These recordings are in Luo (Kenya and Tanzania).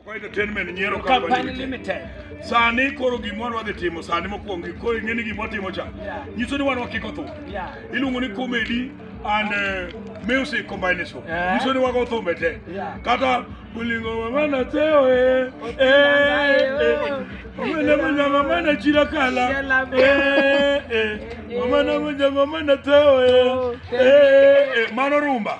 Kwa entertainment nyiero Company company limited. limited. Sani koro gimoro wadhi timo sani mokwongo koro ing'e ni gimwa timo cha. Yeah. Nyiso ni wan wakiko thum. Yeah. Iluongo ni comedy and eh, music combination. Eh. Nyiso ni wago thum e te. Yeah. Kata ulingo mama na teo eh. Eh. eh. Mama na mama mama na chira kala. Chila be. Eh. eh. Mama na mama mama na teo eh. Eh. eh. Mano rumba.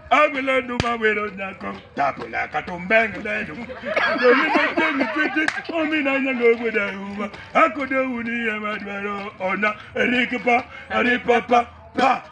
Agwele numa wero nyako Tabula katumbeng ledu Doli metemi titi Omina nyango weda uma Akode uni ya madwaro Ona rikipa Ripapa Pa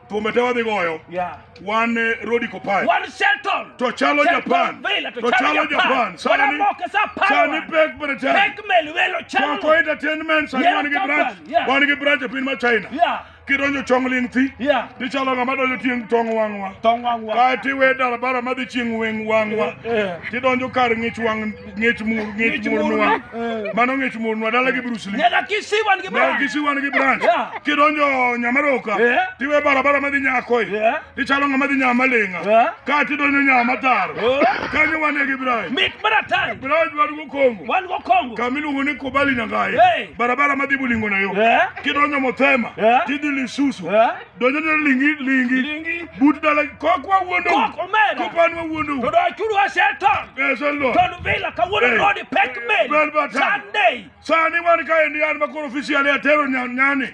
Tumete wadhi goyo Yeah. Wan eh, Rodi Kopai One Shelton. To chalo Shelton Japan Villa, To chalo Japan Sani Wanamoke sa Sani Power. pek Britain Pek Melwelo Kwa Chalo. kwa entertainment Sani Yeah, wan gi Japan, branch yeah. Wan gi branch e piny ma China Yeah. kidonjo chong ling thi Yeah. tichalo ng'ama donjo tieng' tong wang'wa Tong wang'wa. kae tiwe dalabara madhi chieng' weng' wang'wa Eh. tidonjo kar ng'ich wang' ng'ich mur ng'ich Ng'ich murnwa murnwa. Eh. mano ng'ich murnwa dala gi Bruce Lee Nyaka kisiwan gi Dala bana. kisiwan gi branch Yeah. kidonjo nyamaroka Eh. tiwe barabara madhi nyakoi Yeah. ichalo ng'ama dhi nyama ling'a Eh? ka tidonyo nyama taro Oh. kanyo wane gi Ibrahim Mit mar atari. Ibrahim dwaro go Kongo Wan go Kongo. kama iluongo ni Kubali Nyangaye Hey. barabara madhi Bulingo nayo Eh? kidonyo Mothema Eh? tidhi Lisusu Eh? donjo ne lingi lingi Lingi. but dala kok wawuondo Kok omera. kopan wawuondo To do achuru aseton. eso lo Ton vila kawuono Hey. rodi pek Bel mel. batang. Sunday. sani wan kaendi an makoro officially atero nyan- nyani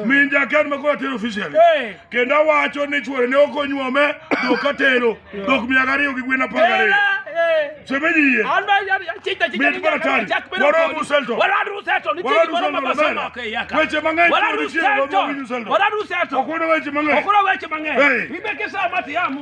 min jakan ma koro atero officially Eh. kendo awacho ni chuore ne ok onyuome dhok atero dhok mia gariyo gi gwen apar gariyo semeji yie Mit mar atari. Waromo Uselton. Waromo Uselton. Weche mang'eny chuore chiero, waromo Uselton. ok wano weche mang'eny Hey. Hey.